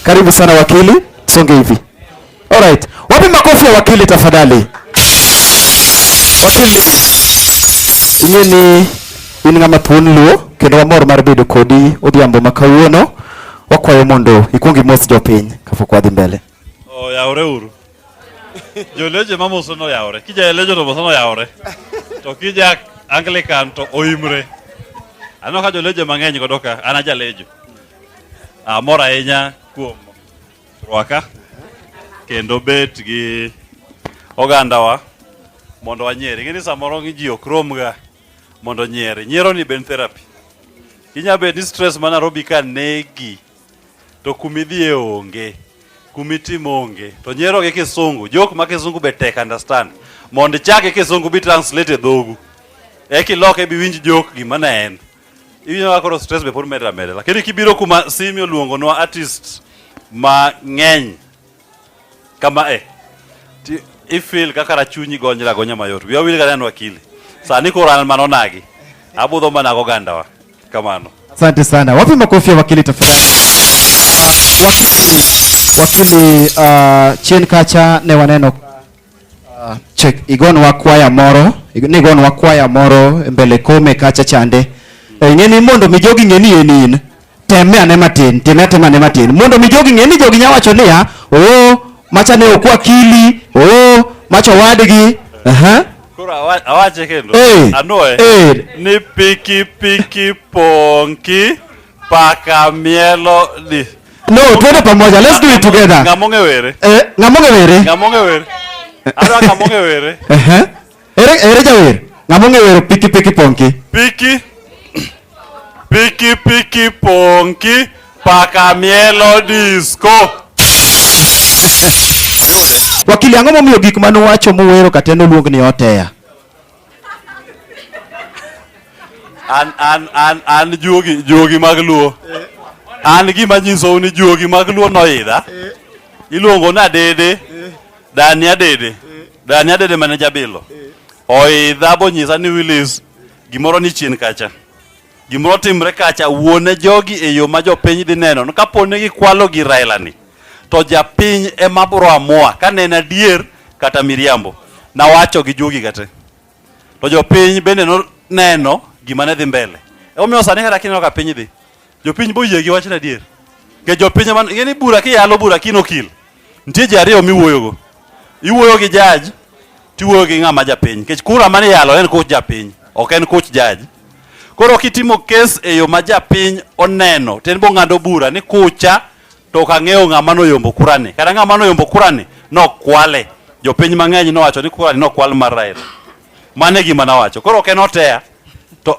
Karibu sana wakili, songe hivi. Alright, wapi makofi ya wakili tafadhali? Wakili inye ni in ng'ama thuon luo kendo wamor mar bedo kodi odhiambo ma kawuono. Wakwayo mondo ikuong imos jopiny kapok wadhi mbele. Oyaore oh, uru. Joleje mamoso noyawore. Kijaelejo to moso noyawore. To kija Anglican to oimre. Aneno ka joleje mang'eny godo ka an ajalejo. Amor ahinya kuom rwaka kendo bet gi ogandawa mondo wanyieri. Ing'e ni samoro ji ok romga mondo nyieri. Nyiero ni ben therapy. Inya bet ni stress ma Nairobi ka negi to kumidhie onge kumitimo onge to nyero gi kisungu jok ma kisungu be tek understand mondo ichake kisungu bi translate e dhogu eki loke bi winj jok gima ne en iwinjo ka koro stress be pod medra medra lakini kibiro kuma simi oluongonwa artist ma ng'eny kama e ifil kaka rachunyi gonyra gonya mayot wiya wil kaneno akili sani koro an mano nagi abudho mana gogandawa kamano asante sana wapi makofi ya wakili tafadhali uh, wakili wakili uh, chien kacha ne waneno Uh, check igonwa kwaya moro nigonwa kwaya moro e mbele kome kacha chande e, ng'eni mondo mi jogi ng'eni en in teme ane matin time atema ane matin mondo mi jogi ng'eni jogi nya wacho niya oo macha ne okwa kili oo macha owadgi aha Koro awa- awache kendo Eh, anwoye eh. ni pikipiki ponki Paka mielo di. No, twende pamoja. Let's do it together. Ngamonge were. Eh, ngamonge were. Ngamonge were. Ara ngamonge were. Eh eh. Ere ere jawer. Ngamonge were piki piki ponki. Piki. Piki piki ponki. Paka mielo disco. Wakili ang'o momiyo gik mane uwacho muwero kata noluong ni oteya? an an an an juogi juogi mag luo an gima nyisou ni juogi mag luo noidha iluongo na dede dani adede dani adede mane jabilo oidha bonyisa ni wilis gimoro ni chien kacha Gimoro otimre kacha, wuone jogi e yo ma jopiny dhi neno ni kapo ni gikwalo gi Raila ni to japiny ema bro amua ka ne en adier kata miriambo. Nawacho gi jogi ga te. To jopiny bende noneno gima ne dhi mbele. Emomiyo sani kata kineno ka piny dhi, jopiny boyie gi wachno adier. Nikech jopiny ema ng'e ni bura kiyalo bura kinokil, nitie ji ariyo miwuoyogo. Iwuoyo gi judge tiwuoyo gi ng'ama japiny nikech kura mane yalo en koch japiny ok en koch jaji koro kitimo kes e yo ma japiny oneno to en bong'ado bura ni kucha to ok ang'eyo ng'ama noyombo kurani kata ng'ama noyombo kurani nokwale jopiny mang'eny nowacho ni kurani nokwal mar Raila mano e gima nawacho koro ok en oteya to